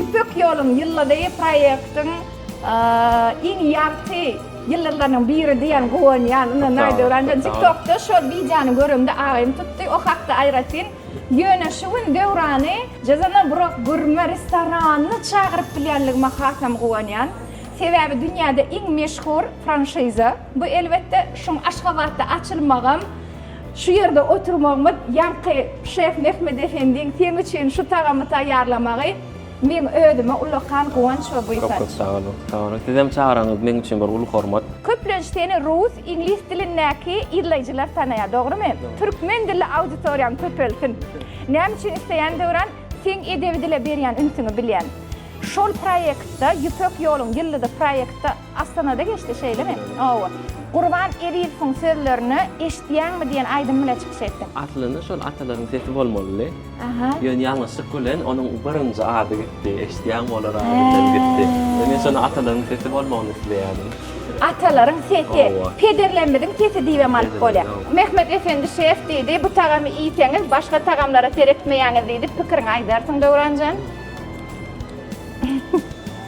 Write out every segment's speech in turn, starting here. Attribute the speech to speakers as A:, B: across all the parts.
A: Ýüpek ýoluň ýyldyzy proýektiň iň ýagty ýyldyzlarynyň biri diýen guwanýan. Ynha Naýdöwran-da TikTok-da şol wideony göremde aýym tutdy. O hakda aýratyn Ýöne şu gün Döwrany Jazana Burak gurme restoranyna çagyryp bilýänligime hasam guwanýan. Sebäbi dünýäde iň meşhur franşiza. Bu elbetde şuň Aşgabatda açylmagam, şu ýerde oturmagymyz ýaňky şef Mehmet Efendiň seň üçin şu tagamy taýýarlamagy Meň özüme ullakan guwanç we buýsanç. Köp köp sag boluň. Sag boluň. Sizem çagyraňyz meň üçin bir uly hormat. Köplenç seni rus, iňlis dilindäki yzlaýjylar tanaýar, dogrymy? Türkmen dilli auditoriýaň köpelsin. Näme üçin isleýän Döwran, seň edebi dile berýän ünsüňi bilýän. Şol proýektde, Ýüpek ýoluň ýyldyzy proýektde. Astanada geçdi şeýlemi? Hawa. Gurban Ezizowyň sözlerini eşitýäňmi diýen aýdym bilen çykyş etdi. Aslynda şol atalaryň sesi bolmalydy. Aha. Ýöne ýalňyşlyk bilen onuň birinji ady gitdi. Eşitýäňmi olar ady bilen gitdi. Ýöne men şonda atalaryň sesi bolmagyny isleýärdim. Atalaryň sesi. Hawa. Pederlerimiziň sesi diýibem alyp bolýar. Pederler, hawa. Mehmet Efendi şef diýdi, bu tagamy iýseňiz, başga tagamlara seretmeýäňiz diýdi, pikiriňi aýdarsyň Döwranjan.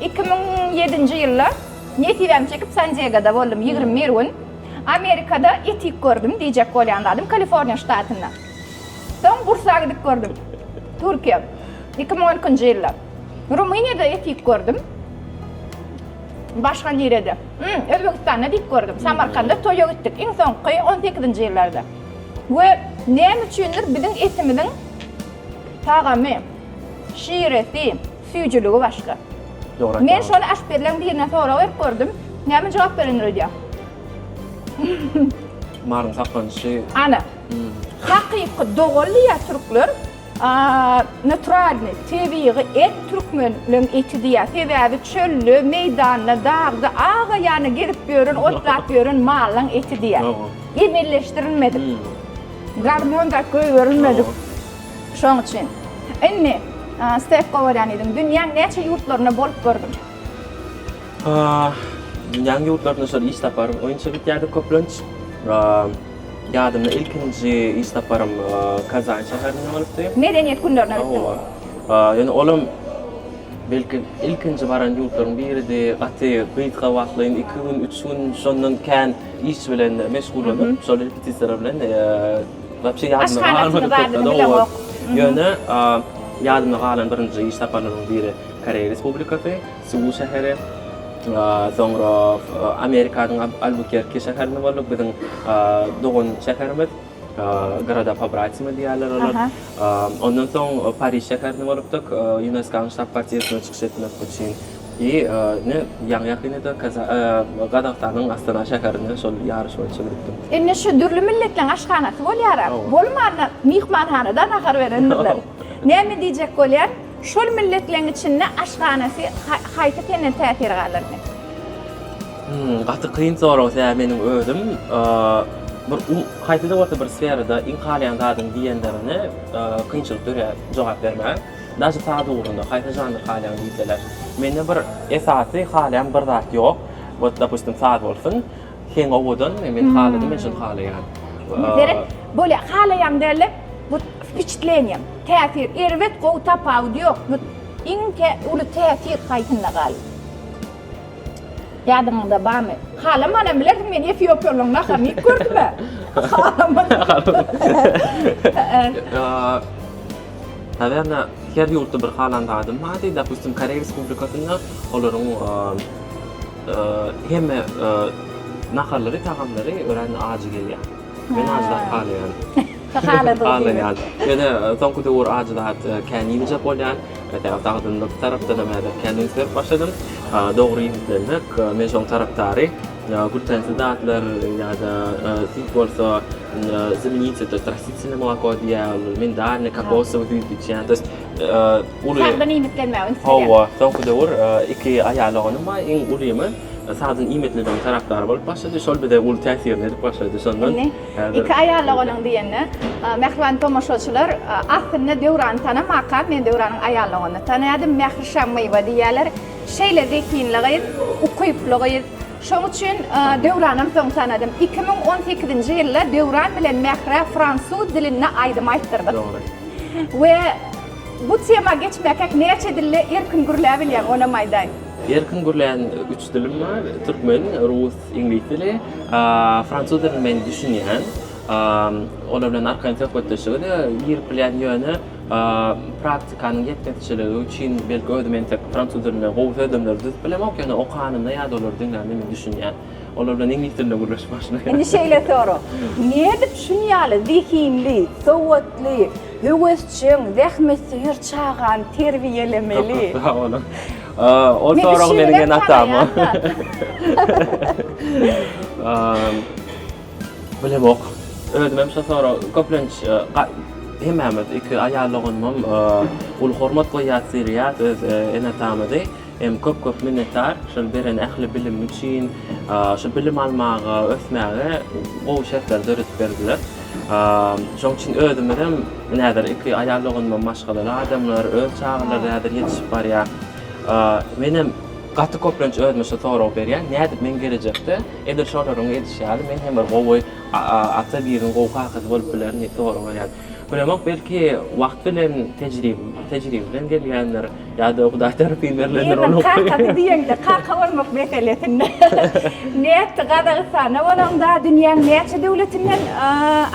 A: Iki müň ýedinji ýylda nesibämi çekip San-Diegada boldum ýigrimi bir gün. Amerikada etik gördüm diýjek bolýan zadym Kaliforniýa ştatynda. Soň Bursa gidip gördüm. Türkiýe. Iki müň on ikinji ýylda. Rumyniýada etik gördüm. Başga nirede? Hum, Özbegistanda diýip gördüm. Samarkanda toýa gitdik. Iň soňky on sekizinji ýyllarda. We näme üçindir biziň etimiziň tagamy, şiresi, Süýjüligi başga. Dogry aýtýaňyz. Men şony aşpezleň birine sorag berip gördüm. Näme jogap berendir öýdýäň. Maryň saklanyşy. Ana. Hakyky dogal diýýär türkler. Naturalny, tebigy et türkmenleň eti diýýär. Sebäbi çölde, meýdanda, dagda aga ýany gezip ýören, otlap ýören malyň eti diýýär. Emeleşdirilmedik. Gormon zat goýberilmedik. Şoň üçin, indi Stef gowarýan ýeriň, dünýäň näçe ýurtlarynda bolup görgün? Dünýäň ýurtlarynda şol iş saparym boýunça gitýärdik köplenç. Ýadymda ilkinji iş saparym Kazan şäherinde bolupdy. Medeniýet günlerine gitdiň? Hawa. Ýöne olam belki ilkinji baran ýurtlaryň biridi. Gaty gysga wagtlaýyn, iki gün, üç gün, şondan kän iş bilen meşgullanyp, şol repetisiýalar bilen Wapşe ýadymda galmady köpde dogrudyr. Ýöne ýadymda galan birinji iş saparlarymyň biri Koreý Respublikasy, Seul şäheri. Soňra Amerikanyň Albukerki şäherinde bolduk. Biziň dogan şäherimiz Goroda Pobratime diýýärler olar. Ondan soň Pariž şäherinde bolupdyk. Ýuneskonyň ştab-kwartirasyna çykyş etmek üçin I ne ýaňy ýakynda-da Gazagystanyň Astana şäherinde şol ýaryş boýunça gidipdim. Indi şu dürli milletleriň aşhanasy bolýar-a. Bolmanda myhmanhanada nahar berendirler. Näme diýjek bolýan, şol milletleriň içinde aşhanasy haýsy senden täsir galardy? Hmm, gaty kyn sorag, sebäbi meniň özüm bir haýsy-da bolsa bir sferada iň halaýan zadym diýenlerine kynçylyk dörýär jogap bermäge. Daşy saz ugrunda haýsy žanr halaýaň diýseler, mende bir esasy halaýan bir zat ýok. Wot dopustim saz bolsun, heň owadanmy, men haladym, men şuny halaýan. Indi seret, bolýa, halaýaň dälde, wot wpiçitleniýaň, täsir, erbet, gowy tapawudy ýok, wot iň tä uly täsir haýsynda galyp? Ýadyňyzda barmy? Halamanam bilersiň, men efiopiýalyň naharyny iýip gördüm-ä. Halaman. Nawerno, her ýurtda bir halan zadym bardy. Dopustim, Koreý Respublikasynda olaryň hemme naharlary, tagamlary örän ajy gelýär. Men ajy zat halaýaryn. Halaýaryn. Ýöne soňky döwür ajy zat kän iýmejek bolýan. Esasan sagdynlyk tarapdanam häzir kän üns berip başladym. Dogry iýmitlenmek, men şoň tarapdary. Gültänsi zatlar ýa-da süýt bolsa zamenitsi, to ýest rastitsiýne moloko diýýär, mindarni, kokosowy süýt içýär, to ýest uly. Sagdyn iýmitlenmäge üns berýär. Hawa, soňky döwür iki aýalogany bar, iň ulymy sagdyn iýmitlenmegiň tarapdary bolup başlady, şol bize uly täsirini edip başlady, şondan Indi iki aýaloganyň diýende, mähriban tomaşaçylar, aslynda Döwrany tanamakam, men Döwranyň aýalloganyny tanaýardym, Mährişa Mywa diýýärler, Şeýle zehinli gyz, ukyply gyz. Şoň üçin Döwranam soň tanadym. Iki müň on sekizinji ýylda Döwran bilen Mährä fransuz dilinde aýdym aýtdyrdyk. Dogry. We bu tema geçmäkäk näçe dilde erkin gürläbilýäň, onam aýdaý? Erkin gürlän üç dilim bar, türkmen, rus, iňlis dili. Fransuz dilini men düşünýän. Olar bilen arkaýyn söhbetdeşlige-de girip bilýän, ýöne. Praktikanyň ýetmezçiligi üçin belki özüm entek fransuz dilinde gowy sözlemleri düzüp bilemok, ýöne okanymda ýa-da olary diňlänimde men düşünýän. Olar bilen iňlis dilinde gürleşip başlaýan. Indi şeýle sorag. Nädip şuny ýaly zehinli, sowatly, höwesjeň, zähmetsöýer çagany terbiýelemeli? Köp-köp sag boluň. Ol soragy meniň enatama. Bilemok. Özümem şo sorag köplenç hemmämiz iki aýal doganymam uly hormat goýýas seýleýäs öz ene atamyzy. Hem köp köp minnetdar şol beren ähli bilim üçin. Şu bilim almaga ösmäge gowy şertler döredip berdiler. Şoň üçin özümizem ine häzir iki aýal doganymam maşgalaly adamlar öz çagalary häzir ýetişip barýar. Menem gaty köplenç özüme şu soragy berýän nädip men gelejekde Edil şolaryň edişi ýaly, men hem bir gowy ata, biriniň gowy kakasy bolup bilerin diýip soraglaýan. Bilemok, belki wagt bilen tejribe bilen gelýändir, ýa-da Hudaý tarapyn berlendir ol hukuk. Ýerden kakasy diýeňde, kaka bolmak meselesinde. Nätdi, Gazagystanda bolaňda, dünýäň näçe döwletinden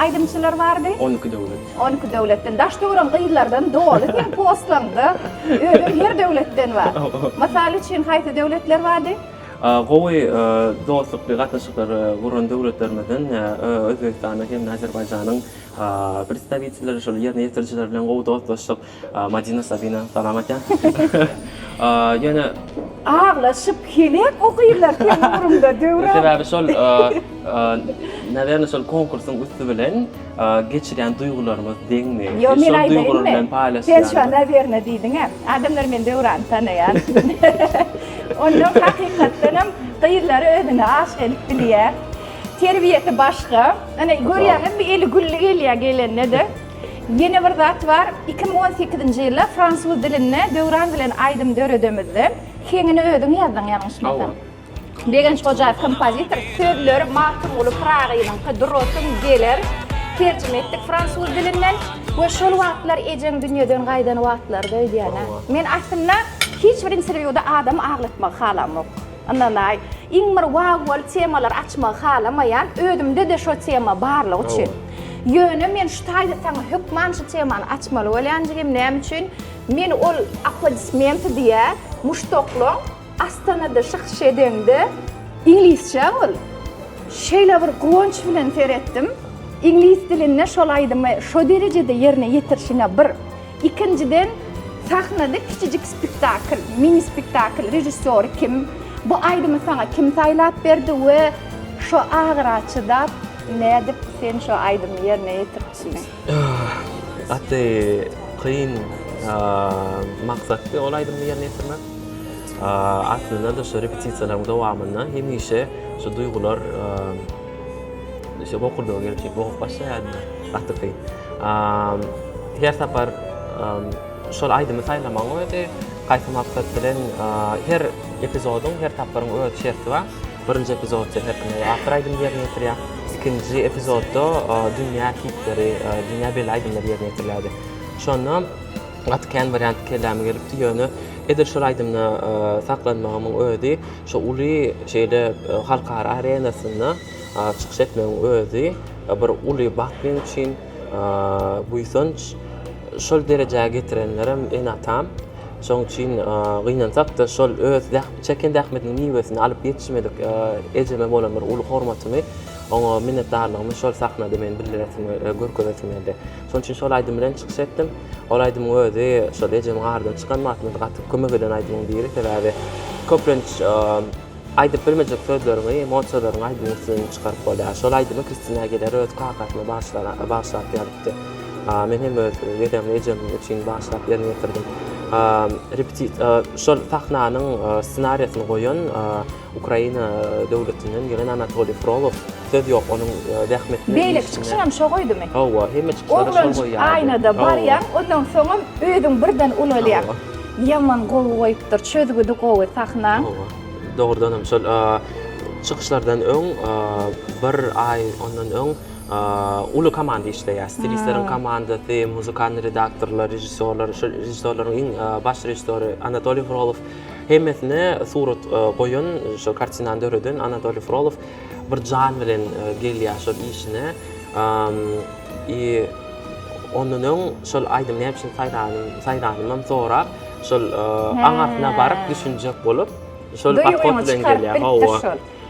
A: aýdymçylar bardy? On iki döwlet. On iki döwletden. Daş-töwerek gyzlardan doly seň postlaryňda. Özem her döwletden bar. Mysal üçin, haýsy döwletler bardy? Gowy dostlukly gatnaşyklary guran döwletlerimizden Özbegistanyň hem-de Azerbaýjanyň predstawitelleri, şol ýerine ýetirijileri bilen gowy dostlaşdyk. Madina, Sabina, salam aýtýan. Ýöne. Aglaşyp, heläk okyrlar seň ugruňda, Döwran. Sebäbi şol, nawerne, şol konkursyň üsti bilen. Geçirýän duýgularyňyz deňmi? Ýok, men aýdaýynmy? Sen şu an nawerno diýdiň-ä. Adamlar meni Döwrany tanaýar. Onnoň hakykatdanam gyzlary özüne aşyk edip bilýär. Terbiýesi başga. Ine, görýäňizmi, eli gülli gelýär gelende-de. Ýene bir zat bar, iki müň on sekizinji ýylda fransuz dilinde Döwran bilen aýdym döredemizde, heňini özüň ýazdyň ýalňyşmasam. Begenç Hojaýew kompozitor, sözleri Magtymguly Pyragynyňky Durasym geler terjime etdik fransuz dilinden we şol wagtlar ejeň dünýeden gaýdan wagtlarydy öýdýän-ä. Men aslynda hiç bir interwýuda adamy aglatmagy halamok. Ynanaý, iň bir wawwaly temalary açmagy halamaýan, özümde-de şo tema barlygy üçin. Ýöne men şu taýda saňa hökman şu temany açmaly bolýan jigim, näme üçin? Men ol aplodismenti diýýär, muşdaklaň. Astanada çykyş edeňde iňlisçä ol şeýle bir guwanç bilen seretdim. Iňlis dilinde şol aýdymy şo derejede ýerine ýetirişine bir. Ikinjiden sahnada kiçijik spektakl, mini spektakl režissýory kim? Bu aýdymy saňa kim saýlap berdi we şo agyra çydap nädip sen şo aýdymy ýerine ýetiripsiň? Gaty kyn maksatdy ol aýdymy ýerine ýetirmek. Aslynda-da şu repetisiýalaryň dowamynda hemişe şu duýgular bokurdaga gelip şeýdip ogup başlaýardy. Gaty kyn. Her sapar şol aýdymy saýlamagyň özi, haýsy maksat bilen, her epizodyň, her tapgyryň öz şerti bar. Birinji epizodda Heppy After aýdymy ýerine ýetirýär. Ikinji epizodda dünýä hitleri, dünýä belli aýdymlar ýerine ýetirilýärdi. Şonda gaty kän wariant kelläme gelipdi, ýöne edil şol aýdymda saklanmagymyň özi, şu uly şeýle halkara arenasynda çykyş etmegiň özi bir uly bagt meň üçin, buýsanç. Şol derejä getirenlerem ene-atam. Şonuň üçin gynansak-da, şol öz Çeken zähmetiniň miwesini alyp ýetişmedik ejeme bolan bir uly hormatymy, oňa minnetdarlygymy şol sahnada men bildiresim we görkezesim geldi. Şonuň üçin şol aýdym bilen çykyş etdim. Ol aýdymyň özi şol ejemiň aradan çykan wagtynda gaty kömek eden aýdymyň biri. Sebäbi köplenç aýdyp bilmejek sözleriňi monçalaryň aýdymyň üstünden çykaryp bolýar. Şol aýdymy Kristina Agiler öz kakasyna bagyşlap ýazypdy. Men hem öz dedemle ejem üçin bagyşlap ýerine ýetirdim. Şol sahnanyň ssenariýasyny goýan Ukraina döwletinden ýygyn Anatoliý Frolow. Söz ýok, onuň zähmetine. Beýleki çykyşyň hem şo goýdumy? Hawa, hemme çykyşlary şo goýýardy. Aýnada barýaň, ondan soňam özüň birden ulalýaň. Ýaman gowy goýupdyr, çözgüdi gowy sahnaň. Dogrudanam şol çykyşlardan öň, bir aý ondan öň. uly komanda işleýär. Stilistleriň komandasy, muzykalnyý redaktorlar, režissýorlar, şol režissýorlaryň iň baş režissýory Anatoliý Frolow. Hemmesine surat goýan, şol kartinany döreden Anatoliý Frolow bir jan bilen gelýär şol işine. I ondan öň şol aýdymy näme üçin saýlanymam sorap, şol aňyrsyna baryp düşünjek bolup, şol podhod bilen gelýär. Hawa.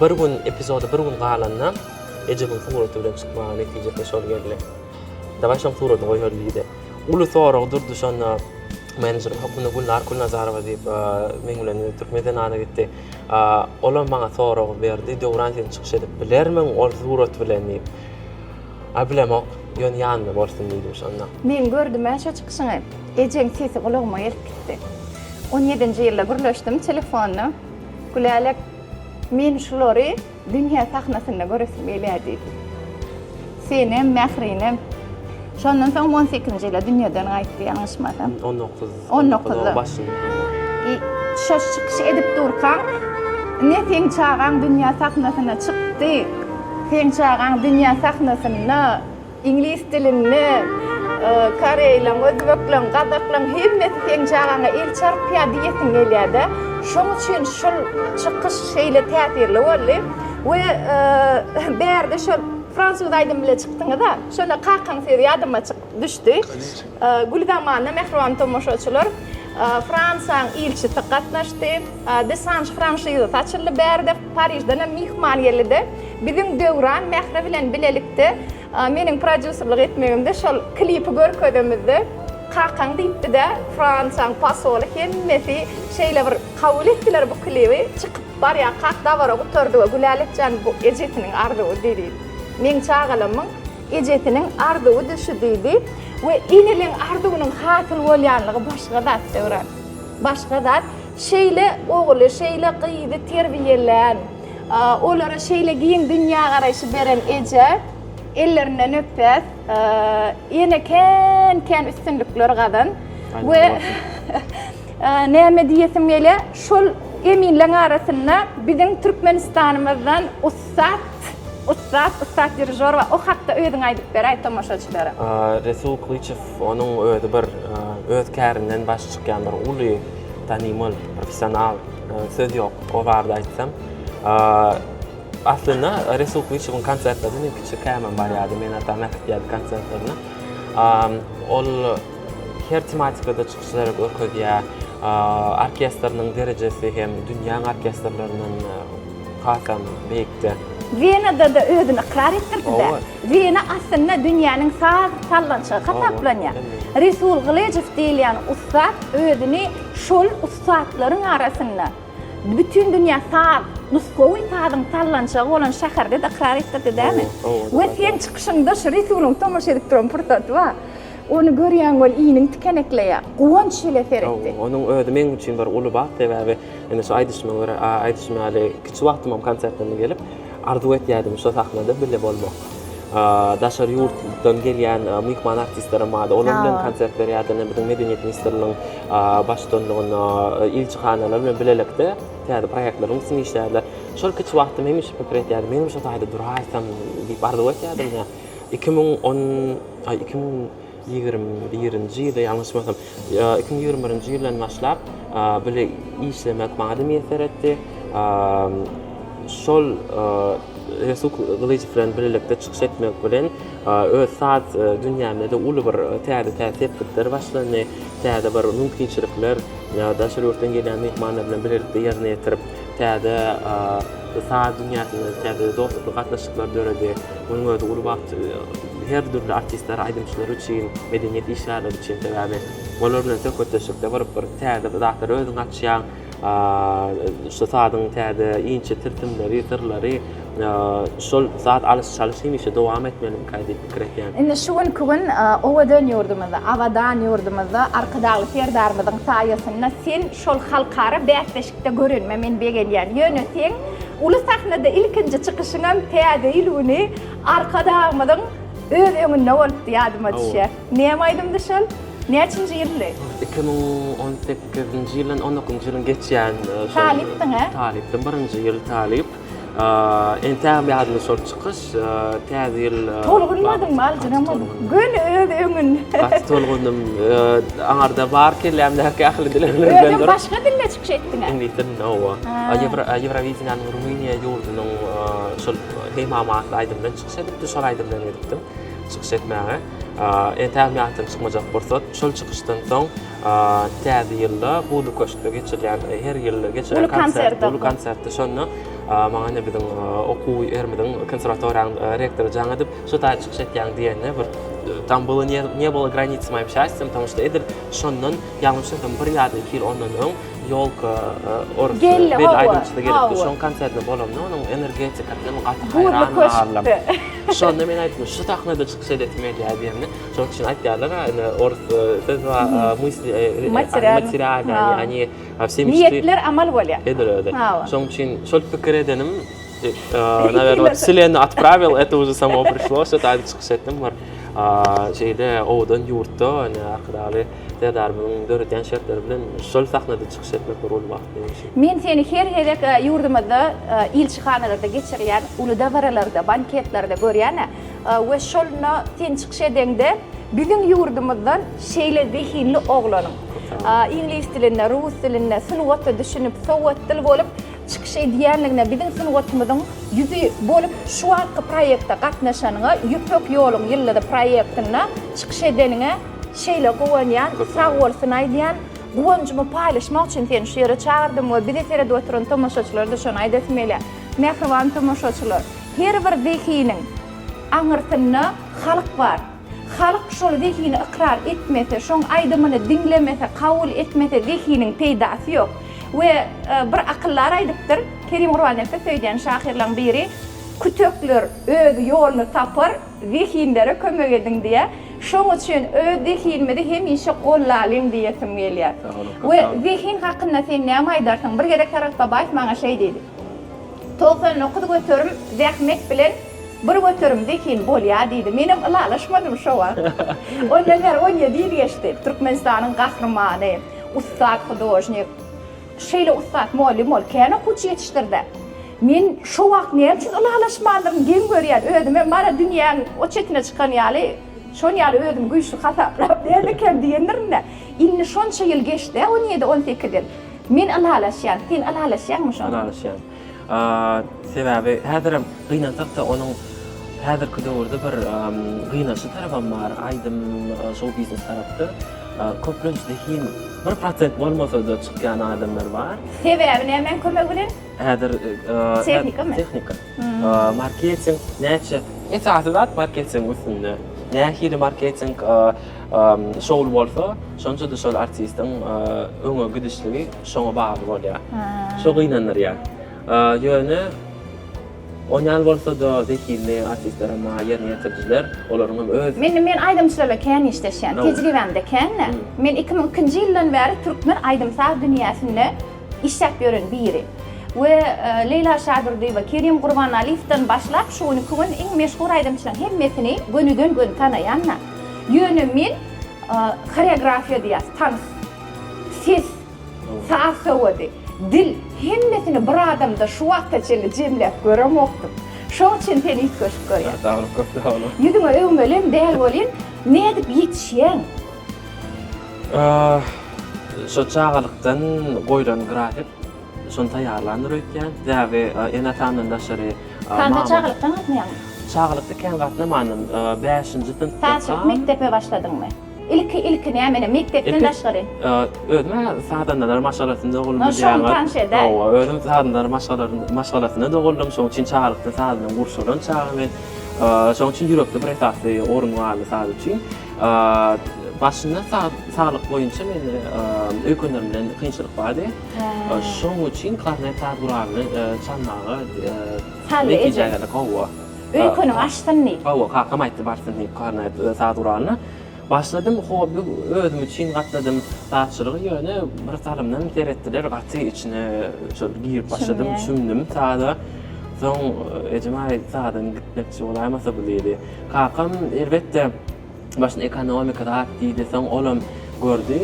A: Bir gün epizoda bir gün galanda Ejemiň suraty bilen çykmaga netijesine şol geldi. Dawaý şoň suratyny goýaly diýdi. Uly sorag durdy şonda menejerim hökmünde Gülnar Kulnazarowa diýip meň bilen Türkmen zenany gitdi. Olam maňa sorag berdi. Döwran sen çykyş edip bilermiň ol surat bilen diýip. Aý bilemok. Ýöne ýanymda bolsun diýdim şonda. Men gördüm-ä şo çykyşyňy. Ejeň sesi gulagyma gelip gitdi. On ýedinji ýylda gürleşdim telefonda. Gülälek Men şulary dünýä sahnasynda göresim gelýärdi. Senem, Mährinem. Şondan soň on sekizinji ýyla dünýeden gaýtdy, ýalňyşmasam. On dokuz. On dokuzda. Başynda. Şo çykyş edip durkaň, ine seň çagaň dünýä sahnasyna çykdy, seň çagaň dünýä sahnasynda. Iňlis dilinde koreýleň, özbekleň, gazaklaň hemmesi seň çagaňa el çarpýar diýesiň gelýär-de. Şoň üçin şul çykyş şeýle täsirli boldy. We bärde şol fransuz aýdymy bilen çykdyňyz-a. Şonda kakaň sözi ýadyma düşdi. Gül zamana mähriban tomaşaçylar, Fransiýanyň ilçisi gatnaşdy. Desange franşizasy açyldy bärde. Parižden hem myhman geldi-de, biziň Döwran Mähri bilen bilelikde meniň prodýuserlik etmegimde şol klipi görkezemizde, kakaň diýipdi-de, Fransiýanyň posoly hemmesi şeýle bir kabul etdiler bu klibi. Çykyp barýarkak dabara gutardy we Gülälek jan bu ejesiniň arzuwy diýdi. Meň çagalamyň Ejesiniň arzuwydy şu diýdi we eneliň arzuwynyň hasyl bolýanlygy başga zat Döwran. Başga zat. Şeýle ogly, şeýle gyzy terbiýelän, olara şeýle giň dünýägaraýşy beren eje ellerinden öpýäs. Ýene kän-kän üstünlikler gazan we näme diýesim gelýär, şol eminleň arasynda biziň Türkmenistanymyzdan ussat Ussat, ussat dirižor we o hakda özüň aýdyp beräý tomaşaçylara. Resul Klyçew onuň özi bir öz kärinden baş çykýan bir uly tanymal professional söz ýok o barada aýtsam. Aslynda Resul Klyçewiň konsertlerine men kiçikämem barýardym meni atam äkitýärdi konsertlerine. Ol her tematikada çykyşlar görkezýär. Orkestriniň derejesi hem dünýäň orkestrlerinden Hasam beýikde. Wenada-da özüni ykrar etdirdi-dä. Wena aslynda dünýäniň saz sallançygy hasaplanýar. Resul Gylyjow diýilýän ussat özüni şol ussatlaryň arasynda bütin dünýä saz, nusgawy sazyň sallançygy bolan şäherde-de ykrar etdirdi dämi? We seň çykyşyňda şu Resulyň tomaşa edip duran pursaty bar. Ony görýän bol, iniň tikenekleýär. Guwanç bile seretdi. Hawa, onuň özi meň üçin bir uly bagt, sebäbi indi şu aýdyşyma görä, aýdyşym ýaly, kiçi wagtymam konsertlerine gelip, arzuw etýärdim şo sahnada bile bolmak. Daşary ýurtdan gelýän myhman artistlerem bardy. Olar bilen konsert berýärdim. Biziň Medeniýet ministrliginiň baştutanlygynda ilçihanalar bilen bilelikde täze proýektlerimiz üçin işlärler. Şol kiçi wagtym hemişe pikir etýärdim, menem şo taýda duraýsam diýip arzuw etýärdim. iki müň on, aý, iki müň ýigrimi birinji ýylda, ýalňyşmasam, ýa iki müň ýigrimi birinji ýyldan başlap, bile işlemek maňa-da miýesser etdi. Şol Resul Gylyjow bilen birlikde çykyş etmek bilen, öz saz dünýämde-de uly bir täze-täze sepgitler başlandy. Täze bir mümkinçilikler, daşary ýurtdan gelýän myhmanlar bilen bilelikde ýerine ýetirip, Täze sanat dünýäsinde täze dostlukly gatnaşyklar döredi. Munuň özi uly bagt her dürli artistler, aýdymçylar üçin, medeniýet işgärleri üçin. Sebäbi olar bilen söhbetdeşlikde bir bir täze zatlar özüňi açýaň. Şu sazyň täze inçe tilsimleri, syrlary. Şol zat alyş-çalyş hemişe dowam etmelimikä diýip pikir etýän. Indi şu günki gün owadan ýurdumyzda, abadan ýurdumyzda Arkadagly Serdarymyzyň saýasynda sen şol halkara bäsleşikde görenime men begenýän. Ýöne seň uly sahnada ilkinji çykyşyňam Täze ýyl güni Arkadagymyzyň öz öňünde bolupdy, ýadyma düşýär. Näme aýdymdy şol? Näçinji ýyldy? Iki müň on sekizinji ýyl, on dokuzynjy ýylyň geçýän. Talypdyň-a? Talypdym, birinji ýyl talyp. Entägem ýadyma şol çykyş, Täze ýyl. Tolgunmadyňmy, aljyramadyň. Göni öz öňün. Gaty tolgundym. Aňarda bar kellämdäki ähli dilegler. Özem başga dilde çykyş etdiňä. Iňlis dilinde hawa. Ýewrowideniýäniň Rumyniýa ýurdunyň şol Heý mama atly aýdym bilen çykyş edipdim. Şol aýdym bilen gidipdim çykyş etmäge. Entägem ýatdan çykmajak pursat. Şol çykyşdan soň. Täze ýylda Gulu köşkde geçirilýän, her ýyl geçiren konsert, Gulu konsertde şonda maňa ine biziň okuw ýerimiziň konserwatoriýanyň rektory jaň edip, şu taýda çykyş etýäň diýende bir Tam bula ne bula granic moýa şaýstsam, tam şo edil şondan ýalňyşmasam bir ýa-da iki ýyl ondan öň ýolka orus bir aýdymçy gelipdi. Şoň konsertinde bolamda onuň energetikasy gaty haýran galdym. Şonda men aýtdym, şu sahnada çykyş edesim gelýär diýende. Şonuň üçin aýdýarlar-a, ine, orus söz bar, mysli, materialna, ýagny, wse mişdi. Niýetler amal bolýar. Şeýledir özi. Şonuň üçin şol pikir edenim, nawerno, wselenna otpravil, eto uže samo prişlo, şo taýda çykyş etdim, bir şeýle owadan ýurtda, ine, Arkadagly Serdarymyzyň döredýän şertleri bilen şol sahnada çykyş etmek bir uly bagt benim üçin. Men seni her gezek ýurdumyzda ilçihanalarda geçirilýän uly dabaralarda, banketlerde görýän-ä. We şolna sen çykyş edeňde biziň ýurdumyzdan şeýle zehinli oglanyň iňlis dilinde, rus dilinde sungata düşünip, sowatdyl bolup çykyş edýändigine, biziň sungatymyzyň ýüzi bolup şu wagtky proýekte gatnaşanyňa, Ýüpek ýoluň ýyldyzy proýektinde çykyş edeniňe şeýle guwanýan. Sag bolsun aýdýan. Guwanjymy paýlaşmak üçin seni şu ýere çagyrdym we bizi seredip oturan tomaşaçylara-da şony aýdasym gelýär. Mähriban tomaşaçylar! Her bir zehiniň aňyrsynda halk bar. Halk şol zehini ykrar etmese, şoň aýdymyny diňlemese, kabul etmese zehiniň peýdasy ýok. We bir akyldar aýdypdyr, Kerim Gurbannepe söýdýän şahyrlaň biri, Kütekler öz ýoluny tapar, zehinlere kömek ediň diýýär. Şoň üçin öz zehinimizi hemişe gollalyň diýesim gelýär. We zehin hakynda sen näme aýdarsyň? Bir gezek Saragt Babaýew maňa şeý diýdi. Togsan dokuz göterim zähmet bilen bir göterim zehin bolýar diýdi. Menem ylalaşmadym şo wagt. Ondan bäri on ýedi ýyl geçdi. Türkmenistanyň Gahrymany, ussat hudožnik. Şeýle ussat mugallym bolup kän okuwçy ýetişdirdi. Men şo wagt näme üçin ylalaşmandyryn geň görýän özüme. Mana dünýäň o çetine çykan ýaly, şon ýaly özümi güýçli hasaplap, nädekäm diýendirin-dä. Indi şonça ýyl geçdi-ä on ýedi, on sekiz ýyl. Men ylalaşýan. Sen ylalaşýaňmy şoňa? Ylalaşýan. Sebäbi häzirem gynansak-da onuň häzirki döwürde bir gynaçly tarapam bar, aýdym, şou biznes tarapda. Köplenç zehin bir prosent bolmasa-da çykýan adamlar bar. Sebäbi nämäň kömegi bilen? Häzir tehnikamy? Tehnika. Marketing näçe esasy zat marketing üstünde. Nähili marketing şowly bolsa, şonça-da şol artistiň öňe gidişligi şoňa bagly bolýar. Şo gynandyrýar. Ýöne onýan bolsa-da zehinli artistler hem bar, ýerine ýetirijiler, olaryň hem öz. Men men aýdymçylarla kän işleşýän, tejribämde kän-de. Men iki müň ikinji ýyldan bäri türkmen aýdym-saz dünýäsinde işläp ýören biri we Leýla Şadurdyýewa, Kerim Gurbanaliýewden başlap şu günki gün iň meşhur aýdymçylaryň hemmesini gönüden göni tanaýan-da. Ýöne men horeografiýa diýýäs, tans, ses, saz sowady, dil hemmesini bir adamda şu wagta çenli jemläp göremokdym. Şoň üçin seni üýtgeşik görýän. Saglyk köp sag boluň. Ýüzüňe öwmelem däl welin nädip ýetişýäň? Şo çagalykdan goýlan grafik, şony taýýarlandyr öýtýän. Sebäbi ene-atamdan daşary Sen de çagalykdan gatnaýaňmy? Çagalykda kän gatnamandym. Bäşinji synpda. Sen mekdebe başladyňmy? Ilki-ilki nämeni, mekdepden daşgary? Özüm-ä sazandalar maşgalasynda doguldym. Ýa şony tanyş ede. Hawa, özüm sazandalar maşgalasynda doguldym. Şonuň üçin çagalykdan saz bilen gurşalan çaga men. Şonuň üçin ýürekde bir esasy orun galdy saz üçin. Başynda saglyk boýunça men öýkünlerimde kynçylyk bardy. Şonuň üçin Klarnet saz guralyny çalmaga netije geldik. Hawa. Öýküniň açsyn diýip. Hawa, kakam aýtdy barsyn diýip Klarnet saz guralyna. Başladym, hobby özüm üçin gatnadym sazçylygy, ýöne bir salymdan seretdiler, gaty içine şol girip başladym, çümdüm saza. Soň ejem aýtdy, saza gitmekçi bolaýmasa bu diýdi. Kakam elbetde başda ekonomika zat diýdi, soň olam gördi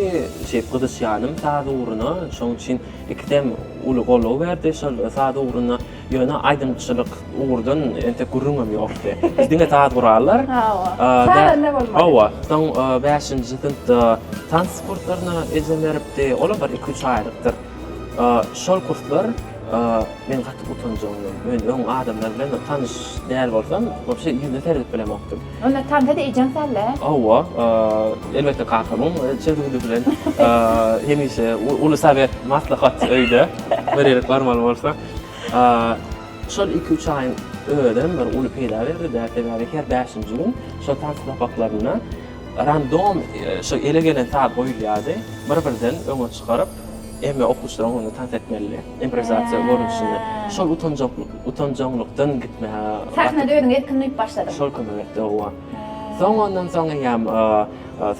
A: şeýdip gyzyşýanym saz ugruna, şoň üçin ikisem uly goldaw berdi şol saz ugruna, ýöne aýdymçylyk ugurdan entek gürrüňem ýokdy. Diňe saz gurallar. Hawa. Sazanda bolmaly. Hawa, soň bäşinji synpda tans kurslaryna ejem beripdi, olam bir iki-üç aýlykdyr. Şol kurslar men gaty utanjagymdan, men öň adamlar bilen-de tanyş däl bolsam, wapşe ýüzüne seredip bilemokdym. Onda tansa-da ejeň sal-a? Hawa, elbetde kakamyň çözgüdi bilen. Hemişe uly sowet, maslahat öýde, bir ýere barmaly bolsak. Şol iki-üç aýyň özem bir uly peýda berdi-dä, sebäbi her bäşinji gün şol tans sapaklarynda random şo ele gelen saz goýulýardy, bir-birden öňe çykaryp, Emma okuwçylaryň ony tans etmeli, improwizasiýa görnüşinde. Şol utanjaklyk, utanjaňlykdan gitmäge gaty. Sahnada özüňi erkin duýup başladyň. Şol kömek etdi, howwa. Soň ondan soň eýýäm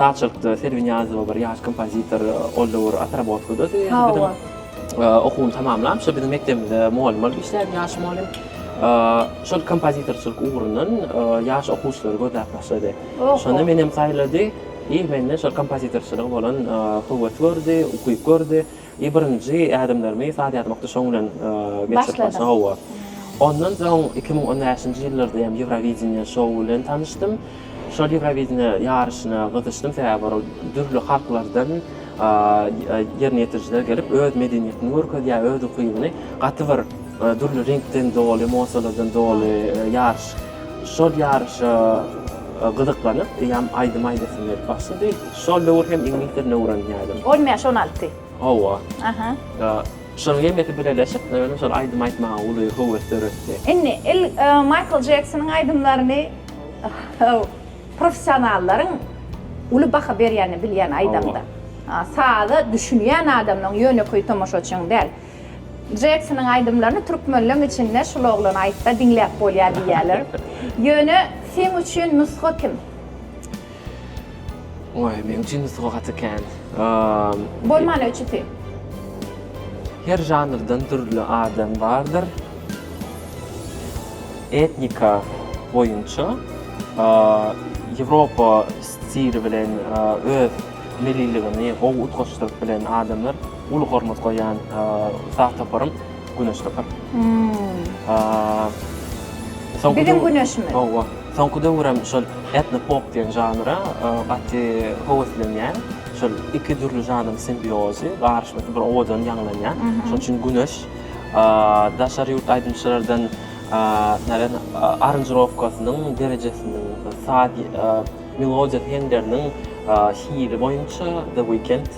A: sazçylykda Serwi Niýazowa bir ýaş kompozitor, ol döwür otrabotkada dy. Hawa. Okuwyny tamamlap, şol biziň mekdebimizde mugallym bolup işlärdi, ýaş mugallym. Şol kompozitorçylyk ugrundan ýaş okuwçylary gözläp başlady. Oho. Şonda menem saýlady. Iň mende şol kompozitorçylyga bolan höwes gördi, ukyp gördi. I birinji ädimlerimi saz ýazmakda şoň bilen geçirip başladym. Hawa. Ondan soň iki müň on bäşinji ýyllarda hem Ýewrowideniýe şou bilen tanyşdym. Şol Ýewrowideniýe ýaryşyna gyzyşdym, sebäbi ora dürli halklardan ýerine ýetirijiler gelip, öz medeniýetini görkezýär, öz ukybyny gaty bir dürli reňkden doly, emossiýalardan doly ýaryş. Şol ýaryşa gyzyklanyp, eýäm aýdym aýdasym gelip başlady. Şol döwür hem iňlis dilini öwrenýärdim. On bäş, on alty. Hawa. Aha. Şonuň hemmesi birleşip, mende şol aýdym aýtmaga uly höwes döretdi. Indi il Maýkl Jeksonyň aýdymlaryny professionallaryň uly baha berýänini bilýän aýdamda. Saza düşünýän adamlaryň, ýönekeý tomaşaçynyň däl. Jeksonyň aýdymlaryny türkmenleň içinde şul oglan aýtsa diňläp bolýar diýýäler. Ýöne seň üçin nusga kim? Oý, meň üçin nusga gaty kän. Bolmana üçüsi. Her žanrdan dürli adam bardyr. Etnika boýunça Ýewropa stili bilen öz milliligini gowy utgaşdyryp bilen adamlar. Uly hormat goýýan ussat toparym Güneş topar. Biziň Güneşimiz. Hawa. Soňky döwür hem şol etno pop diýen žanra gaty höweslenýän. Şol iki dürli žanryň simbiozy, garyşmasy bir owadan ýaňlanýar. Şonuň üçin Güneş daşary ýurt aýdymçylardan aranžirowkasynyň derejesiniň, saz melodiýa hengleriniň hili boýunça The Weekend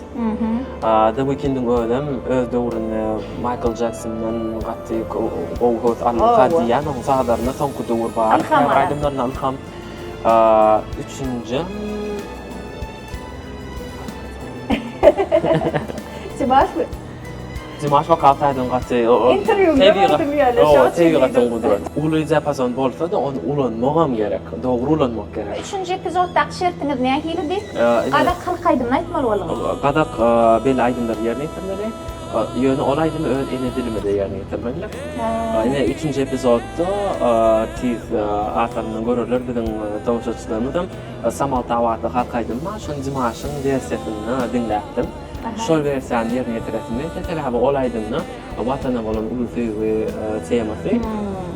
A: The Weeknd-iň özem öz döwründe Maýkl Jeksondan gaty gowy höwes alynsa diýýän, onuň sazlarynda soňky döwür bar. Ylham alan. Aýdymlaryndan ylham. Üçünjim. Çybaşly. Dimaş waka taýdan gaty tebigatyň gudraty. Uly diapason bolsa-da, ony ulanmagam gerek, dogry ulanmak gerek. Üçünji epizoddaky şertiňiz nähilidi? Gazak halk aýdymyny aýtmaly bolduňyz. Gazak belli aýdymlary ýerine ýetirmeli, ýöne ol aýdymy öz ene dilimizde ýerine ýetirmelidik. Ine, üçünji epizodda tiz arkasyny görerler biziň tomaşaçylarymyzam Samaltabatly halk aýdymy bar, şony Dimaşyň wersiýasynda diňläpdim. Şol wersiýany ýerine ýetiresim gelýär. Sebäbi ol aýdymda Watana bolan uly söýgi temasy.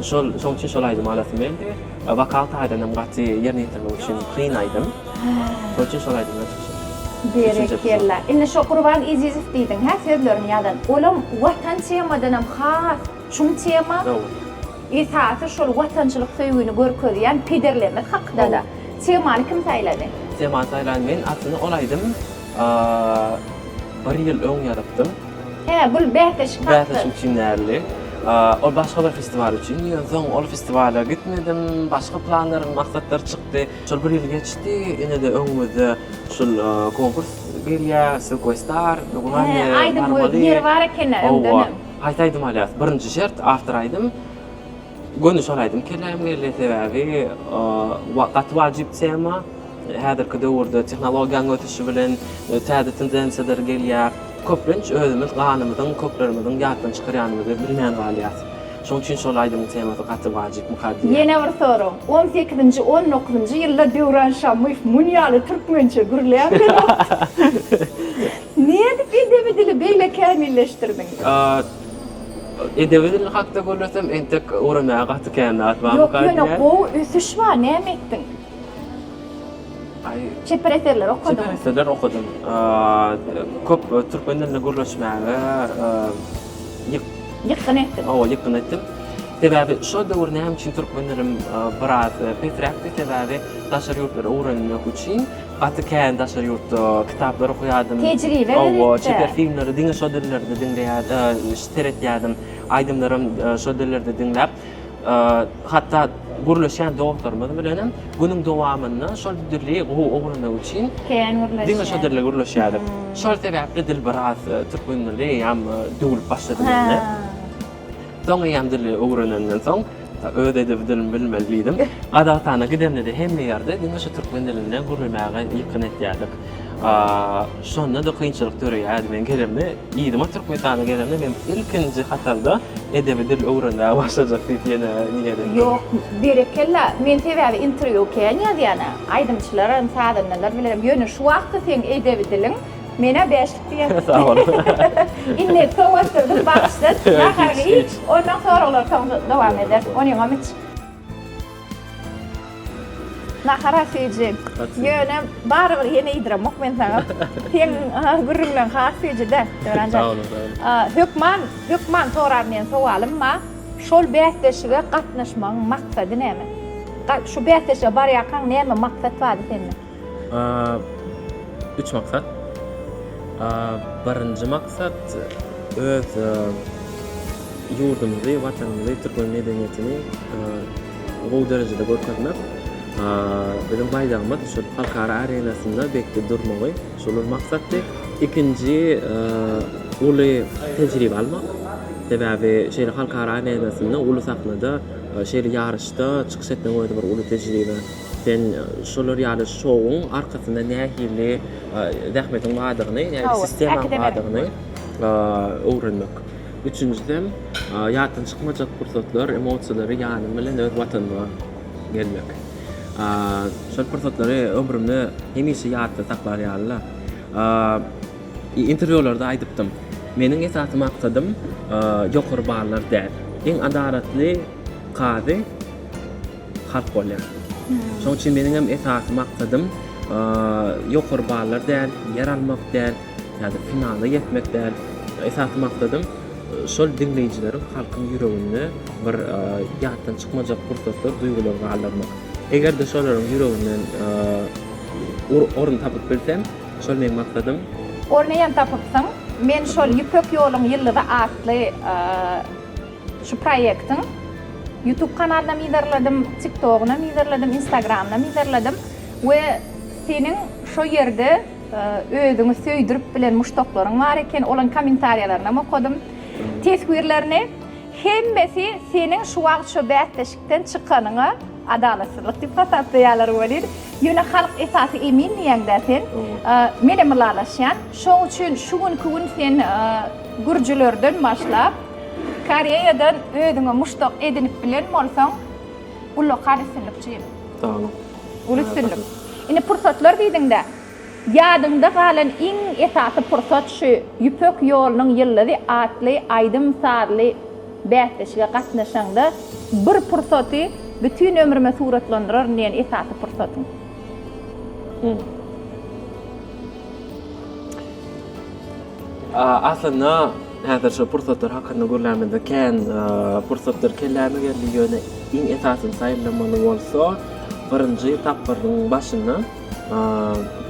A: Şol şonuň üçin şol aýdymy alasym geldi. Wokal taýdan hem gaty ýerine ýetirmek üçin kyn aýdym. Şonuň üçin şol aýdym bilen çykyş etdim. Berekella. Indi şo Gurban Ezizow diýdiň hä sözlerini ýazan. Olam Watan temadan hem has çuň tema. Esasy şol watançylyk söýgini görkezýän pederlerimiz hakda-da. Temany kim saýlady? Temany saýlan men. Aslynda ol aýdym A bir ýyl öň ýazypdym. Hä, bul bäsleşik hakda. Bäsleşik üçin däldi. A ol başga bir festiwal üçin. Ýöne soň ol festiwala gitmedim. Başga planlarym, maksatlar çykdy. Şol bir ýyl geçdi. Ine-de öňümizde şul konkurs gelýä, Sylkoý star. Hä, aýdym goýup ýeri bar eken-ä öňdenem. Haýsy aýdymy alýas? Birinji şert, awtor aýdym. Göni şol aýdym kelläm geldi sebäbi gaty wajyp tema. Häzirki döwürde tehnologiýanyň ösüşi bilen täze tendensiýalar gelýär. Köplenç özümiz ganymyzyň köklerimiziň ýatdan çykarýanymyzy bilmän galýas. Şoň üçin şol aýdymyň temasy gaty wajyp mukaddiýa. Ýene bir sorag. On sekizinji, on dokuzynjy ýylda Döwran Şamuýew mun ýaly türkmençe gürläp bilenokdy. Nädip edebi dili beýle kämilleşdirdiň? Edebi dil hakda gürlesem entek öwrenmäge gaty kän zat barmy Ýok ýöne gaýdýar. gowy ösüş bar näme etdiň? Aý Çeper eserler okadyň. Çeper eserler okadym. Köp türkmen dilinde gürleşmäge ýyk Ýykgyn etdiň. Owo ýykgyn etdim. Sebäbi şo döwür näme üçin türkmen dilim biraz pesräkdi sebäbi daşary ýurtlary öwrenmek üçin Gaty kän daşary ýurtda kitaplar okuýardym. Tejribe gerek-de. Hawa, çeper filmleri diňe şo dillerde diňleýär, seretýärdim. Aýdymlaram şo dillerde diňläp, hatda gürleşýän dostlarymyz bilenem günüň dowamynda şol dili gowy öwrenmek üçin Kän gürleşýärdik. Diňe şo dilde gürleşýärdik. Şol sebäpli dil biraz türkmen dili ýaly döwlüp başlady mende. Soň eýýäm dili öwrenenden soň, öz edebi dilimi bilmeli diýdim. Gazagystana gidemde-de hemme ýerde diňe şu türkmen dilinde gürlemäge ýykgyn etýärdik. Şonda-da kynçylyk döreýärdi. Men gelemde, yzyma Türkmenistana gelemde men ilkinji hatarda edebi dil öwrenmäge başlajak diýip ýene niýet etdim. Ýok, berekella. Men sebäbi interwýu kän ýazýan-a. Aýdymçylaram, sazandalar bilenem. Ýöne şu wagtky seň edebi diliň Menä bäşlik diýen. Sag bol. Indi sowatdyrdym, bagyşlat. Nahar iç, ondan soraglar soň dowam eder. Onyňam iç. Nahara süýji. Ýöne barybir ýene iýdiremok men saňa. Seň gürrüňleň has süýji-dä, Döwran jan. Sag boluň, sag boluň. Hökman, hökman soran diýen sowalym bar. Şol bäsleşige gatnaşmagyň maksady näme? Şu bäsleşige barýarkaň näme maksat bardy sende? Üç maksat. Birinji maksat öz ýurdumyzy, Watanymyzy, türkmen medeniýetini gowy derejede görkezmek. Biziň baýdagymyz şol halkara arenasynda belki durmagy, şolar maksatdy. Ikinji uly tejribe almak. Sebäbi şeýle halkara arenasynda, uly sahnada şeýle ýaryşda çykyş etmegiň özi bir uly tejribe. Sen şolar ýaly şowuň arkasynda nähili zähmetiň bardygyny, nähili sistemaň bardygyny öwrenmek. Üçünjisem, ýatdan çykmajak pursatlar, emosiýalary ýanyň bilen öz Watanyňa gelmek. Şol pursatlary ömrümde hemişe ýatda saklar ýaly-la. Interwýularda aýdypdym. Meniň esasy maksadym ýokary ballar däl. Iň adalatly kazy. Halk bolýar. Şoň üçin meniň hem esasy maksadym ýokary ballar däl, ýer almak däl ýa-da finala ýetmek däl. Esasy maksadym şol diňleýjileriň, halkyň ýüreginde bir ýatdan çykmajak pursatlar, duýgular galdyrmak. Eger-de şolaryň ýüreginden orun tapyp bilsem, şol meniň maksadym. Ornuny hem tapypsyň. Men şol Ýüpek ýoluň ýyldyzy atly Şu proýektiň Youtube kanalynam yzarladym, TikTogunam yzarladym, Instagramynam yzarladym we seniň şo ýerde özüňi söýdürip bilen muşdaklaryň bar eken, olaň kommentariýalarynam okadym. Teswirlerini hemmesi seniň şu wagt şo bäsleşikden çykanyňa adalatsyzlyk diýip hasaplaýarlar welin, ýöne halk esasy emin diýýäňdä sen. Menem ylalaşýan. Şoň üçin şu günki gün sen gürjülerden başlap, Koreýadan özüňe muşdak edinip bilen bolsaň ullakan üstünlik jigim. Saglyk. Uly üstünlik. Indi pursatlar diýdiňdä, ýadyňda galan iň esasy pursat şu Ýüpek ýolunyň ýyldyzy atly aýdym-sazly bäsleşige gatnaşaňda bir pursaty bütin ömrüme suratlandyraryn diýen esasy pursatyň? Aslynda Häzir şol pursatlar hakynda gürlämizde kän pursatlar kelläme geldi, ýöne iň esasyny saýylamaly bolsa, birinji tapgyryň başynda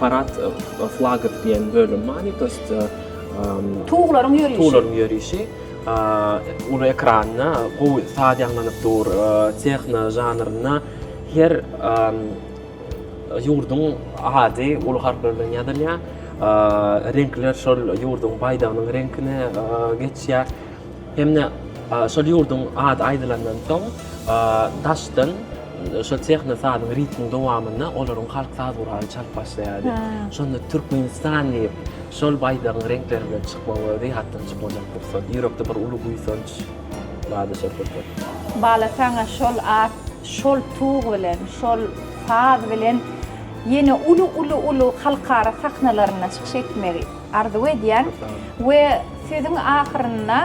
A: parad flagov diýen bölüm bardy, to ýest Tuglaryň ýörişi. Tuglaryň ýörişi. Uly ekranda gowy saz ýaňlanyp dur, tehno žanrynda her Ýurduň ady uly harplar bilen ýazylýar. Reňkler şol ýurduň baýdagynyň reňkine geçýär. Hem-de şol ýurduň ady aýdylandan soň, daşdan şol tehno sazyň ritmiň dowamynda olaryň halk saz guraly çalyp başlaýardy. Şonda Türkmenistan diýip, şol baýdagyň reňkleri bilen çykmak özi ýatdan çykmajak pursat. Ýürekde bir uly buýsanç bardy şol pursat. Bala saňa şol at şol tug bilen, şol saz bilen ýene uly uly uly halkara sahnalarynda çykyş etmegi arzuw edýän we sözüň ahyrynda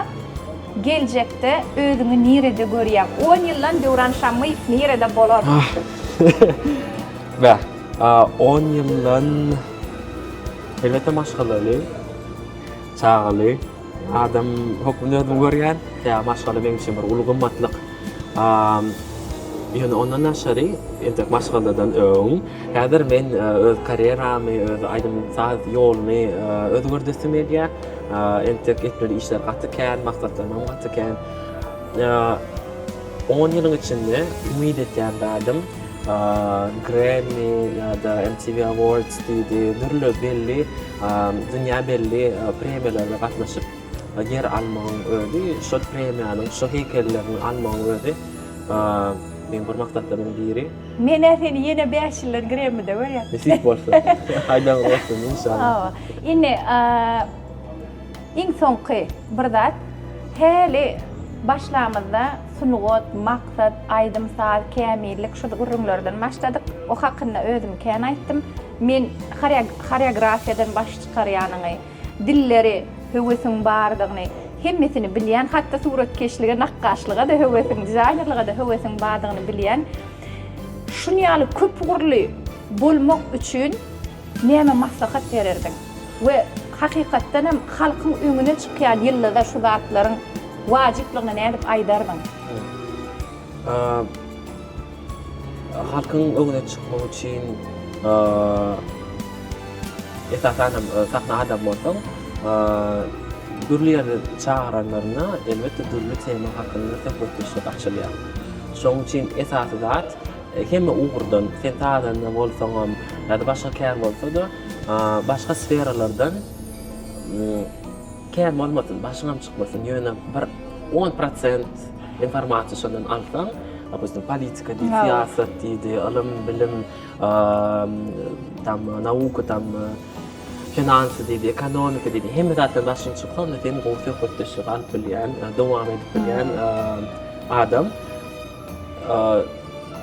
A: geljekde özüňi nirede görýäň? On ýyldan Döwran Şammyýew nirede bolar? Beh, on ýyldan elbetde maşgalaly. Çagaly adam hökmünde özümi görýän, ýa maşgala benim üçin bir uly gymmatlyk. Ýöne ondan daşary, entek maşgaladan öň, häzir men öz karýeramy, öz aýdym saz ýolumy özgerdesim gelýär. Entek etmeli işler gaty kän, maksatlarymam gaty kän. On ýylyň içinde umyt etýän zadym Grammy ýa-da MTV Awards diýdi, dürli belli Dünýä belli premiýalara gatnaşyp ýer almagyň özi, şol premiýanyň, şo heýkelleriň almagyň özi meň bir maksatlarymyň biri. Men-ä seni ýene bäş ýyldan Gremmide görýän. Nesip bolsa. Haýdaň bolsun, inşallah. Hawa. Indi iň soňky bir zat. Häli başlamyzda sungat, maksat, aýdym-saz, kämillik şu gürrüňlerden başladyk. O hakynda özüm kän aýtdym. Men horeografiýadan baş çykarýanyňy, dilleri höwesiň bardygyny, hemmesini bilýän, hat-da suratkeşlige, nakgaşlyga-da höwesiň, dizaýnerlige-de höwesiň bardygyny bilýän. Şuny ýaly köp ugurly bolmak üçin näme maslahat bererdiň? We hakykatdan hem halkyň öňüne çykýan ýyldyza şu zatlaryň wajyplygyny nädip aýdardyň? Halkyň öňüne çykmak üçin esasan hem sahna adamy bolsaň, dürli ýerde çagyranlarynda elbetde dürli tema hakynda söhbetdeşlik açylýar. Şonuň üçin esasy zat hemme ugurdan, sen sazanda bolsaňam ýa-da başga kär bolsa-da, başga sferalardan Kän bolmasyn, başyňam çykmasyn, ýöne bir on prosent informasiýa şondan alsaň, dopustim, politika diýdi, syýasat diýdi, ylym, bilim, tam, nauka tam, finansy diýdi, ekonomika diýdi, hemme zatdan başyň çyksa, onda sen gowy söhbetdeşlik alyp bilýän, dowam edip bilýän adam.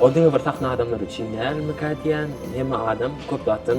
A: O diňe bir sahna adamlary üçin dälmikä diýýän, hemme adam köp zatdan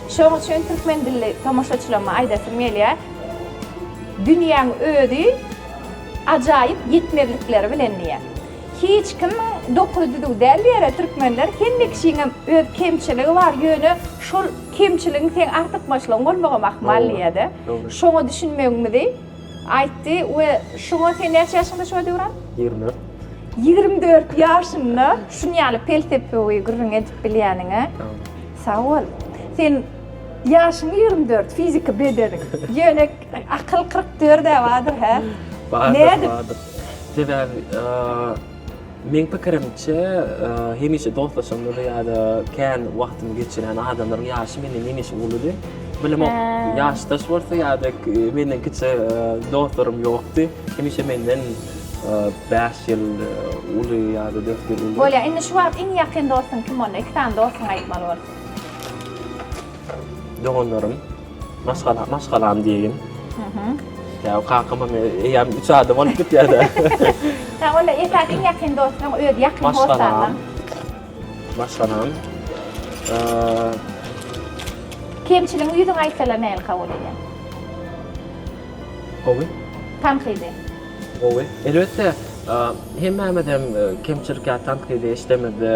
A: Şoň üçin türkmen dilli tomaşaçylaryma aýdasym gelýär, Dünýäň özi ajaýyp ýetmezlikleri bilen diýýär. Hiç kimiň dokuz düzüw däl diýýärä türkmenler, hemme kişiňem öz kemçiligi bar, ýöne şol kemçiligiň seň artykmaçlygyň bolmagam ahmal diýýär-de. Şoňa düşünmegimizi. Aýtdy we şoňa sen näçe ýaşyňda şuňa döwran? Ýigrimi dört. Ýigrimi dört ýaşynda şun ýaly pelsepewi gürrüň edip bilýäniňe sag bol. Sen ýaşyň ýigrimi dört, fiziki bedeniň, ýöne akyl kyrk dörd-ä bardyr hä? Bardyr, bardyr. Sebäbi Meň pikirimçe, hemişe dostlaşanlar ýa-da kän wagtyny geçiren adamlaryň ýaşy menden hemişe uludy. Bilim ok, ýaşdaş bolsa ýa-da menden kiçi dostlarym ýokdy. Hemişe menden bäş ýyl uly ýa-da dört ýyl uly. Bolýar. Indi şu wagt iň ýakyn dostuň kim onda? Iki sany dostuňy aýtmaly bolsaň. Doganlarym. Maşgala, maşgalam diýeýin. Ýa kakam hem eýýäm üç adam bolup gitýär-de. Ýa onda esasy iň ýakyn dostuň özi ýakyn hossarlaň. Maşgalam. Kemçiligiňi ýüzüňe aýtsalar nähili kabul edýäň? Gowy. Tankydy? Gowy. Elbetde, hemmämiz hem kemçilik ýa tankydy işlemizde,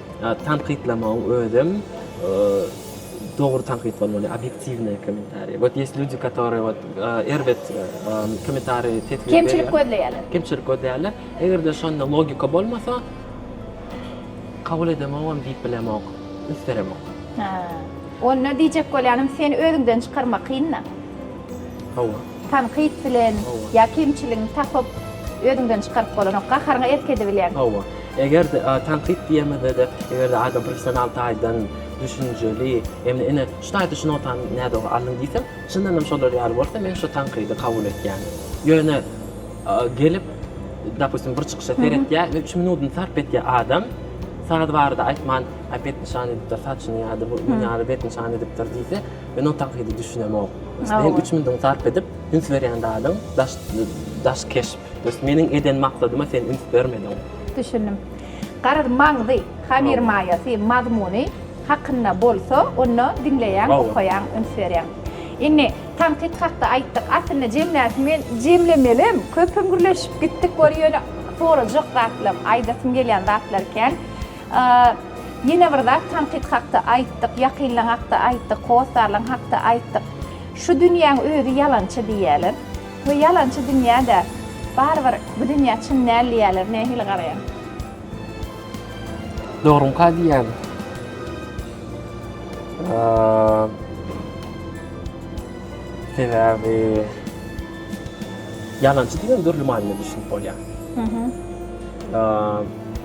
A: Tankytlamagyň özem dogry tankyt bolmaly, obýektiwnyý kommentariý. Wot ýes lýudi, katorýe wot erbet kommentariý teswir berýär. Kemçilik gözleýärler. Kemçilik gözleýärler. Eger-de şonda logika bolmasa, kabul edemogam diýip bilemok, üsteremok. Onda diýjek bolýanym, seni özüňden çykarmak kyn-da. Hawa. Tankyt bilen ýa kemçiligiňi tapyp özüňden çykaryp bolanok. Gaharyňa erk edibilýäň. Hawa. Eger-de tankyt diýemizde-de, eger-de adam professional taýdan düşünjeli, ýagny ine şu taýda şu notany nädogry aldyň diýseň, çyndanam şolar ýaly bolsa men şu tankydy kabul etýän. Ýöne gelip, dopustim, bir çykyşa seretýär we üç minudyny sarp etýär adam, saz barada aýtman, aý bet nyşan edipdir saçyny ýa-da bu ýaly bet nyşan edipdir diýse, Men o tankydy düşünemok. Sen üç minut sarp edip, üns berýän zadyň daş, daş keşp. Meniň eden maksadyma sen üns bermediň. Düşündim. Garaz, maňzy, hamir maýasy, mazmuny hakynda bolsa, onda diňleýäň, okaýaň, üns berýäň. Indi tankyt hakda aýtdyk. Aslynda jemläsim gel, jemlemelem, köpem gürleşip gitdik, ýöne sorajak zatlam, aýdasym gelýän zatlar kän. Ýene bir zat tankyt hakda aýtdyk, ýakynlaň hakda aýtdyk, hossarlaň hakda aýtdyk. Şu dünýäň özi ýalançy diýýäler. Bu ýalançy dünýä-de barybir bu dünýä çyn däl diýýäler. Nähili garaýaň? Dogruňka diýýän. Sebäbi ýalançy diýen dürli manyda düşünip bolýar.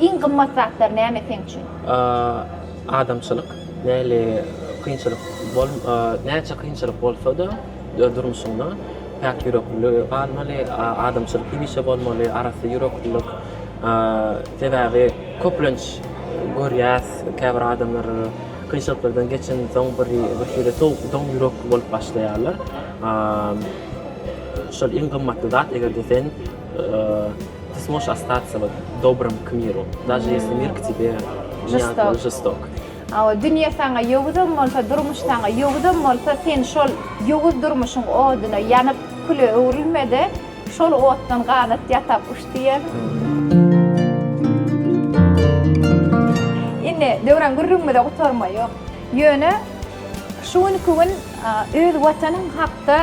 A: Iň gymmat zatlar näme seň üçin? Adamçylyk. Nähili kynçylyk bol, näçe kynçylyk bolsa-da durmuşyňda päk ýüreklilik galmaly, adamçylyk hemişe bolmaly, arassa ýüreklilik. Sebäbi köplenç görýäs, käbir adamlar kynçylyklardan geçensoň birhili sowuk, doň ýürekli bolup başlaýarlar. Şol iň gymmatly zat, eger-de sen. Ty smoş ostaca wot dobrom k miru, daže jesli mir k tebe žestok. žestok. Hawa, dünýe saňa ýowuzam bolsa, durmuş saňa ýowuzam bolsa, sen şol ýowuz durmuşyň oduna ýanyp, küle öwrülme-de, şol otdan ganat ýasap uç diýen. Indi Döwran gürrüňimize gutarma ýok. Ýöne şu günki gün öz Watanyň hakda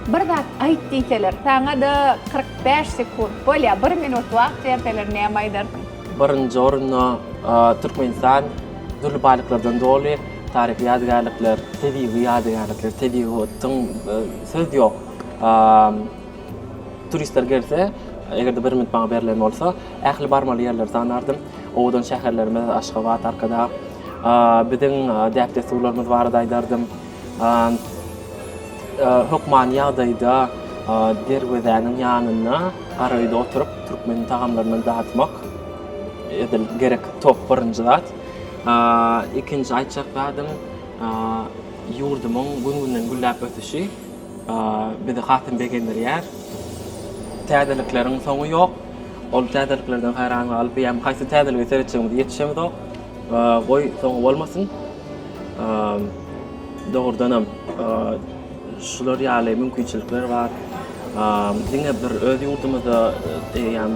A: Bir zat aýt diýseler, saňa-da kyrk bäş sekunt, bolýa, bir minut wagt berseler näme aýdarsyň? Birinji orunda Türkmenistan dürli baýlyklardan doly, taryhy ýadygärlikler, tebigy ýadygärlikler, tebigy otun, söz ýok. Turistler gelse, eger-de bir minut maňa berlen bolsa, ähli barmaly ýerleri sanardym. Owadan şäherlerimiz Aşgabat, Arkadag, biziň däp-dessurlarymyz barada aýdardym. Hökmany ýagdaýda derwezäniň ýanynda gara öýde oturyp türkmen tagamlaryndan datmak edil gerek top birinji zat. Ikinji aýtjak zadym ýurdumyň gün-günden gülläp ösüşi bizi hasam begendirýär. Täzelikleriň soňy ýok. Ol täzeliklerden haýran galyp, eýýäm haýsy täzeligi seretjegimize ýetişemizok. Goý soňy bolmasyn. Dogrudanam şular ýaly mümkinçilikler bar. Diňe bir öz ýurdumyzda eýýäm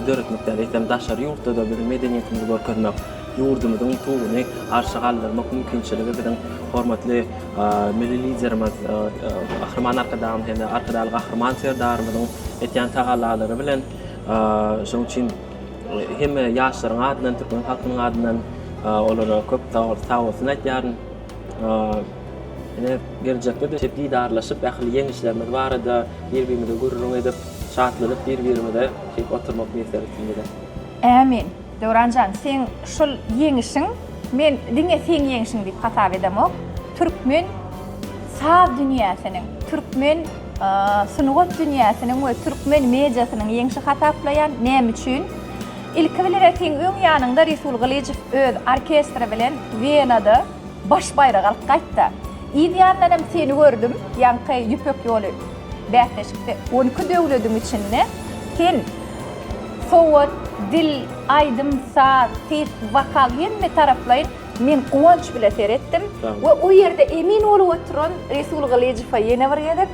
A: döretmek däl, eýsem daşary ýurtda-da biziň medeniýetimizi görkezmek, ýurdumyzyň tuguny arşa galdyrmak mümkinçiligi biziň hormatly Milli Liderimiz Gahryman Arkadagymyz hem-de Arkadagly Gahryman Serdarymyzyň etýän tagallalary bilen. Şonuň üçin Hemme ýaşlaryň adyndan, türkmen halkynyň adyndan olara köp sag bolsun aýtýaryn. Ine, geljekde-de şeýdip didarlaşyp, ähli ýeňişlerimiz barada bir-birimize gürrüň edip, şatlanyp bir-birimize şeýdip oturmak miýesser etsin bize. Ämin. Döwran jan, seň şol ýeňişiň, men diňe seň ýeňişiň diýip hasap edemok, türkmen saz dünýäsiniň, türkmen Sungat dünýäsiniň we türkmen mediasynyň ýeňşi hasaplaýan, näme üçin? Ilki bilen retiň öň ýanyňda Resul Gylyjow öz orkestri bilen Wenada baş baýragy alyp gaýtdy. Yz ýandanam seni gördüm, ýaňky Ýüpek ýoly bäsleşikde on iki döwlediň içinde sen sowat, dil, aýdym, saz, ses, wokal hemme taraplaýyn Men guwanç bile seretdim we o ýerde emin bolup oturan Resul Gylyjowa ýene bir gezek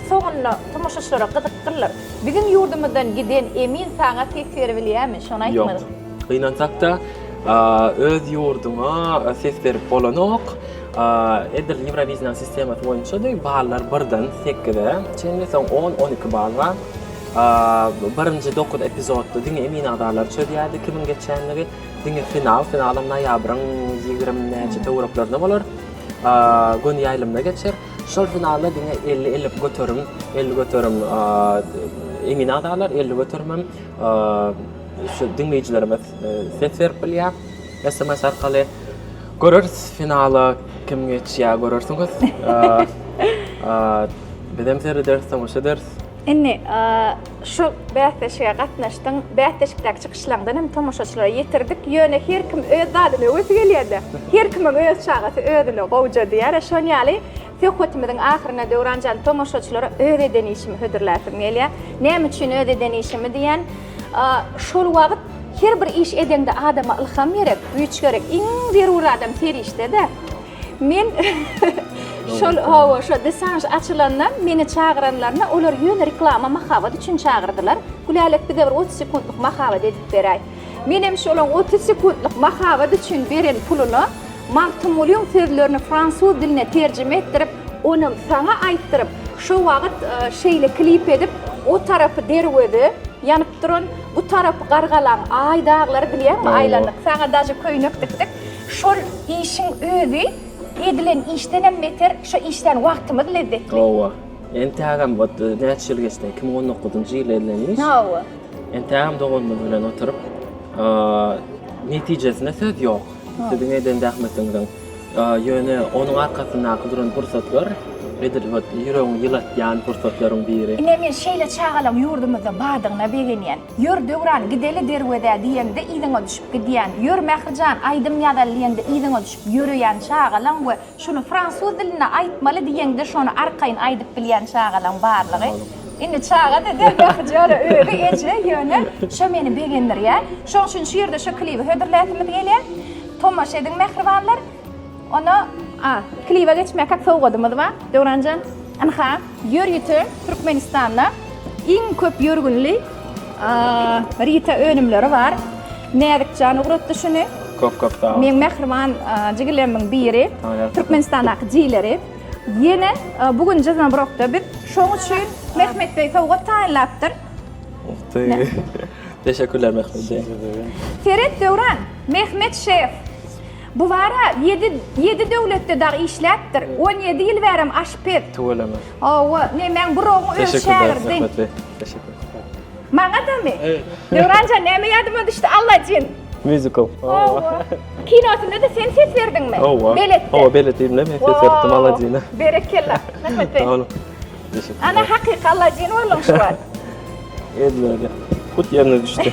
A: soňunda tomaşaçylara gyzykdyrlar. Biziň ýurdumyzdan giden emin saňa ses berip bilýärmi? Şony aýtmaly. Ýok. Gynansak-da, öz ýurduňa ses berip bolanok. Edil Ýewrowizniýa sistemasy boýunçady. Ballar birden sekize çenli, soň on, on iki bal bar. Birinji dokuz epizodda diňe emin agzalary çözýärdi kimiň geçýänligi. Diňe final, finalam noýabryň ýigrimi näçe töwereklerinde bolar. Göni ýaýlymda geçer. Şol finalda diňe elli, elli göterim, elli göterim emin agzalar, elli göterim hem şu diňleýjilerimiz ses berip bilýär. Sms arkaly göreris finala kim geçýär, görersiňiz. Bizem serederis, tomaşa ederis. Indi, Şu bäsleşige gatnaşdyň, bäsleşikdäki çykyşlaňdan hem tomaşaçylara ýetirdik, ýöne her kim öz zadyna öwesi gelýär-dä. Her kimiň öz çagasy özüne gowja diýär-ä, şon ýaly söhbetimiziň ahyryna Döwranjan tomaşaçylara öz eden işimi hödürläsim gelýär. Näme üçin öz eden işimi diýýän? Şol wagt her bir iş edeňde adama ylham gerek, güýç gerek. Iň zerur adam serişde-dä. Men şol hawa şo desanj açylanda meni çagyranlarynda olar ýöne reklama mahabat üçin çagyrdylar. Gülälek bize bir otuz sekuntlyk mahabat edip beräý. Menem şolaň otuz sekuntlyk mahabat üçin beren puluna Magtymgulyň sözlerini fransuz diline terjime etdirip onam saňa aýtdyryp şo wagyt şeýle klip edip o tarapy derweze ýanyp duran bu tarapy gargalaň aý daglary bilýäňmi aýlandyk saňa daže köýnek dikdik Şol işiň özi edilen işdenem beter, şo işdän wagtymyz lezzetli. Hawa. Entägem wot näçe ýyl geçdi, iki müň on dokuzynjy ýyl edilen iş. Hawa. Entägem doganymyz bilen oturyp, netijesine söz ýok. Siziň eden zähmetiňiziň, ýöne onuň arkasyndaky duran pursatlar, edil wot ýüregiňi ýylatýan pursatlaryň biri. Ine men şeýle çagalaň ýurdumyzda bardygyna begenýän. Ýör, Döwran, gideli derwezä diýende yzyňa düşüp gidýän. Ýör, Mährijan, aýdym ýazaly diýende yzyňa düşüp ýöreýän çagalaň we şuny fransuz dilinde aýtmaly diýeňde şony arkaýyn aýdyp bilýän çagalaň barlygy. Indi çaga-da däl Mährijana özi eje, ýöne şo meni begendirýär. Şoň üçin şu ýerde şo klibi hödürläsimiz gelýär. Tomaşa ediň mähribanlar. Onda, a, klibe geçmäkak sowgadymyz bar. Döwranjan, ynha. Ýörite Türkmenistanda iň köp ýörgünli rita önümleri bar. Näzikjan ugratdy şuny. Köp köp sag bol. Meň mähriban jigilerimiň biri Türkmenistandaky jigileri. Ýene bu gün Jizmabrokda biz şoň üçin Mehmet beý sowgat taýynlapdyr. Teşekkürler Mehmet beý. Seret Döwran, Mehmet şef. Bu bara ýedi ýedi döwletde dagy işläpdir. On ýedi ýyl bärem aşpez. Tüweleme. Hawa, nemäň burogyň öz şägirdiň. Teşekkür. Maňadamy? Döwranjan näme ýadyma düşdi, Allajyn. Mýuzikl. Hawa. Kinosynda-da sen ses berdiňmi? Hawa. Beletde. Hawa, belet diýdim-le men ses beripdim Allajyna. Berekella. Rahmet. Sag boluň. Teşekkür. Ana hakyky Allajyn bolduň şu wagt. Edil öýle. Hut ýerine düşdi.